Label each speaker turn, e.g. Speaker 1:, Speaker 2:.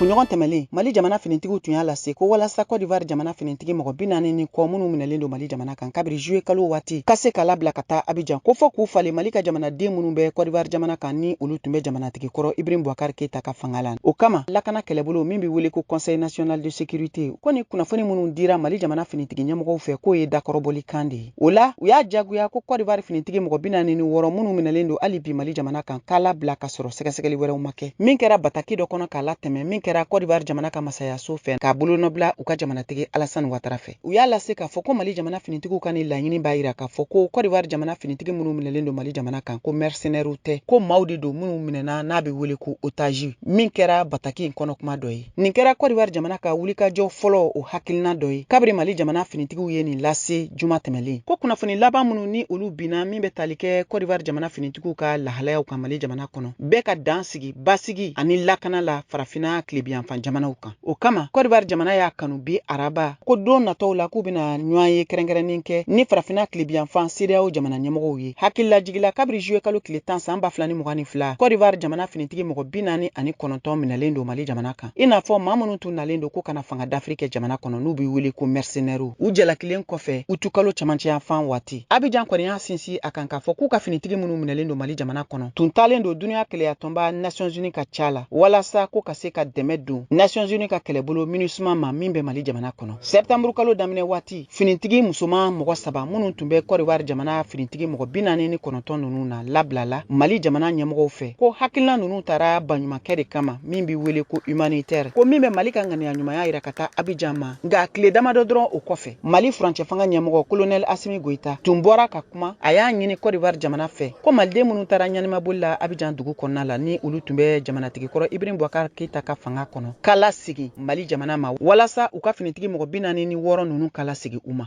Speaker 1: kunɲɔgɔn tɛmɛlen mali jamana finitigiw tun y'a lase ko walasa kɔdivar jamana finitigi mɔgɔ bi naani ni kɔ minnu minɛlen don mali jamana kan kabiri juye kalo waati ka se ka labila ka taa abijan ko fɔ k'u falen mali ka jamanaden minnu bɛ kɔdivar jamana kan ni olu tun bɛ jamanatigi kɔrɔ ibrahim bubakar keyita ka fanga la o kama lakana kɛlɛbolo min bɛ wele ko conseil national de sécurité ko ni kunnafoni minnu dira mali jamana finitigi ɲɛmɔgɔw fɛ k'o ye dakɔrɔbɔli kan de ye O la, u y'a jagoya ko Kɔdiwari finitigi mɔgɔ bi naani ni wɔɔrɔ minnu minɛlen don hali bi Mali jamana kan k'a labila ka sɔrɔ sɛgɛsɛgɛli wɛrɛw ma kɛ. Min kɛra bataki dɔ kɔnɔ k'a latɛmɛn min kɛra Kɔdiwari jamana ka masayaso fɛ k'a bolonɔbila u ka jamanatigi Alassane Ouattara fɛ. U y'a lase k'a fɔ ko Mali jamana finitigiw ka nin laɲini b'a yira k'a fɔ ko Kɔdiwari jamana finitigi minnu minɛlen don Mali jamana kan ko mɛrisenɛriw tɛ, ko maaw de don minnu minɛna n'a bɛ wele ko otazi, min kɛra bataki in kɔnɔkuma dɔ ye. Nin kɛra Kɔdiwari jamana ka wulikajɔ fɔlɔ o hakilina dɔ ye kabiri Mali jamana finitigiw ye nin lase juma tɛmɛlen. Ko kunnafoni laban minnu ni olu binna min bɛ tali kɛ Kɔdiwari jamana finitigiw ka lahalayaw kan Mali jamana kɔnɔ, bɛ ka dan sigi basigi ani lakana la farafinna tlebiyanfan jamanaw kan. O kama, Kɔdiwari jamana y'a kanu bi araba, ko don natɔw la k'u bɛna ɲɔgɔn ye kɛrɛnkɛrɛnnen kɛ ni farafinna tlebiyanfan CEDEAO jamana ɲɛmɔgɔw ye. hakililajigi la kabiri juwe kalo tile tan san ba fila ni mugan ni fila kɔdivar jamana finitigi mɔgɔ bi naani ani kɔnɔntɔn minɛlen don mali jamana kan i n'a fɔ maa minnu tun nalen don ko ka na fanga dafiri kɛ jamana kɔnɔ n'u bɛ wele ko mɛrisenɛriw u jalakilen kɔfɛ utu kalo camancɛ yanfan waati abijan kɔni y'a sinsin a kan k'a fɔ k'u ka finitigi minnu minɛlen don mali jamana kɔnɔ tun taalen don duniɲa kelenyatɔnba nations unis ka ca la walasa ko ka se ka dɛmɛ don nations unis ka kɛlɛbolo minusma ma min bɛ mali jamana kɔnɔ sɛptanburukalo daminɛ waati finitigi musoman mɔgɔ saba minnu tun bɛ kɔdiwari jamana finitigi mɔgɔ bi naani ni kɔnɔntɔn ninnu na labilala mali jamana ɲɛmɔgɔw fɛ ko hakilina ninnu taara baɲumankɛ de kama min bɛ wele ko humanitaire ko min bɛ mali ka ŋaniya ɲumanya yira ka taa abijan ma nka tile damadɔ dɔrɔn o kɔfɛ mali furancɛ fanga ɲɛmɔgɔ kolonɛli asimi goyita tun bɔra ka kuma a y'a ɲini kɔdiwari jamana fɛ ko maliden minnu taara ɲanimaboli la abijan dugu kɔnɔna la ni olu tun bɛ jamanatigikɔrɔ ibrahim bubakar keyita ka fanga kɔnɔ k'a lasegin Mali jamana ma walasa u ka finitigi mɔgɔ bi naani ni wɔɔrɔ ninnu ka lasegin u ma.